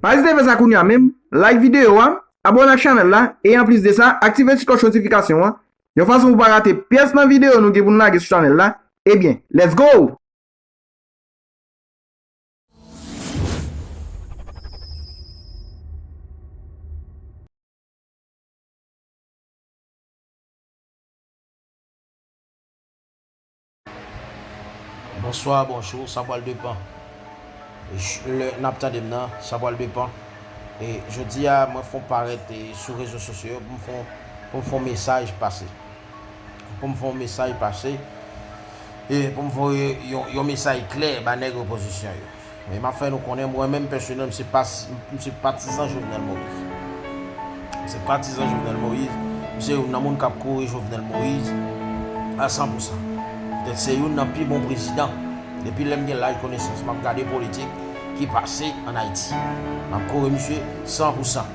Pa ezite fè sa kounya menm, like videyo a, abone ak chanèl la, e anplis de sa, aktive ti klòch notifikasyon an, yon fason pou pa rate pyès nan videyo nou gen pou nou lage sou chanèl la, ebyen, let's go! Bonsoir bonjou sa pwal depan lè nap tandem nan sa pwal depan e jodi a mwen fon parèt sou rezo sosyo yo poum fon poum fon mesaj pase poum fon mesaj pase e poum voye yon mesaj klè ba nèg opozisyon yo. Men map fè nou konnen mwen menm pèsonèl m se pas m se patizan Jovenel Moïse. M se patizan Jovenel Moïse, m se youn nan moun kap kore Jovenel Moïse a 100 pou 100. Petèt se youn nan pi bon prezidan depi lèm gen laj konesans map gade politik ki pase an Ayiti. Map kore misye 100 pou 100.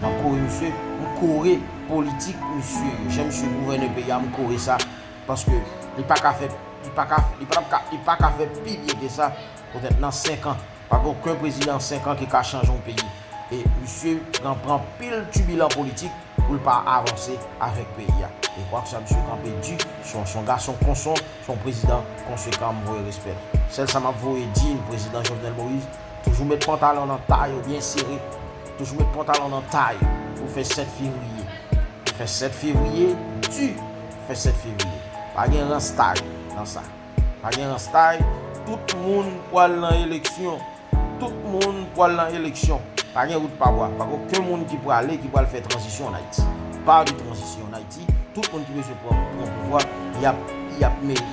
Map kore misye, m kore politik misye yo. Jan misye gouvène peyi a m kore sa paske li paka fè li paka li patap ka li paka fè pi byen ke sa. Poutèt nan 5 an, pa gen oken prezidan 5 an ki ka chanje yon peyi. E misye pran pran anpil tibilan politik pou l pa avanse avèk peyi a. E kwak sa misye kanpe di, se yon se yon gason konson, se yon prezidan konsekan m voye respè l. Sèl sa m ap voye di n prezidan Jovenel Moïse, toujou met pantalon nan tay ou byen sere, toujou met pantalon nan tay pou fè 7 fevriye. Fè 7 fevriye di, fè 7 fevriye. Pa gen rans tay nan sa. Pa gen ranstay, tout moun pwal nan eleksyon. Tout moun pwal nan eleksyon. Pa gen wout pa bwa. Pa gen oken moun ki pwale ki pwal fè tranzisyon an Ayiti. Pa de tranzisyon an Ayiti. Tout moun ki bezwen pran pouvwa, y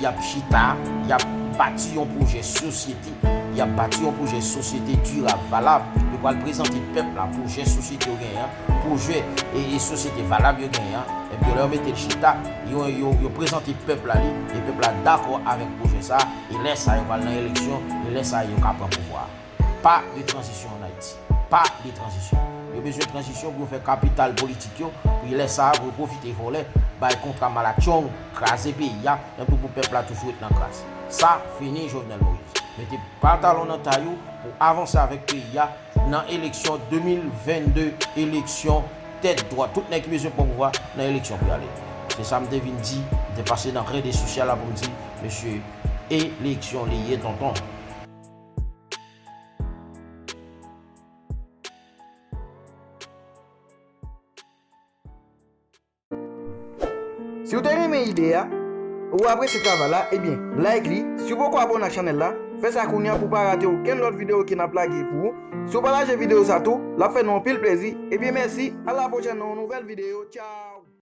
ap chita, y ap bati yon pwojè sosyete. Y ap bati yon pwojè sosyete dirab, valab. Yo pwal prezante pèp la pwojè sosyete yo genyen an. pwojè e sosyete valab yo genyen an, epi yo lè yo mete l chita, yo yo prezante pèp la li, e pèp la dakò avèk pwojè sa a, e lè sa a yo pral nan eleksyon, e lè sa a yo ka pran pouvwa a. Pa de tranzisyon an Ayiti. Pa de tranzisyon. Yo bezwen tranzisyon pou yo fè kapital politik yo, pou lè sa a pou yo pwofite vòlè, bay kontra malatchong, kraze peyi a, epi pou pèp la toujou ret nan kras. Sa fini Jovenel Moïse. Mete pantalon nan tay ou pou avanse avèk peyi a, Nan eleksyon 2022 eleksyon tèt dwat tout nèg ki bezwen pran pouvwa nan eleksyon pou y ale vre se sa m te vin di m te pase nan rede sosyal la pou m di mesye eleksyon li ye tonton. Si ou te renmen ide a, ou apresye travay la, ebyen like li, si ou poko abone ak chanèl la, fè sa kounya pou pa rate okenn lòt video ke nap lage pou ou, si ou pataje video sa tou, lap fè nou anpil plezi, ebyen mèsi, a la pwochèn nan yon nouvèl video, tchaww.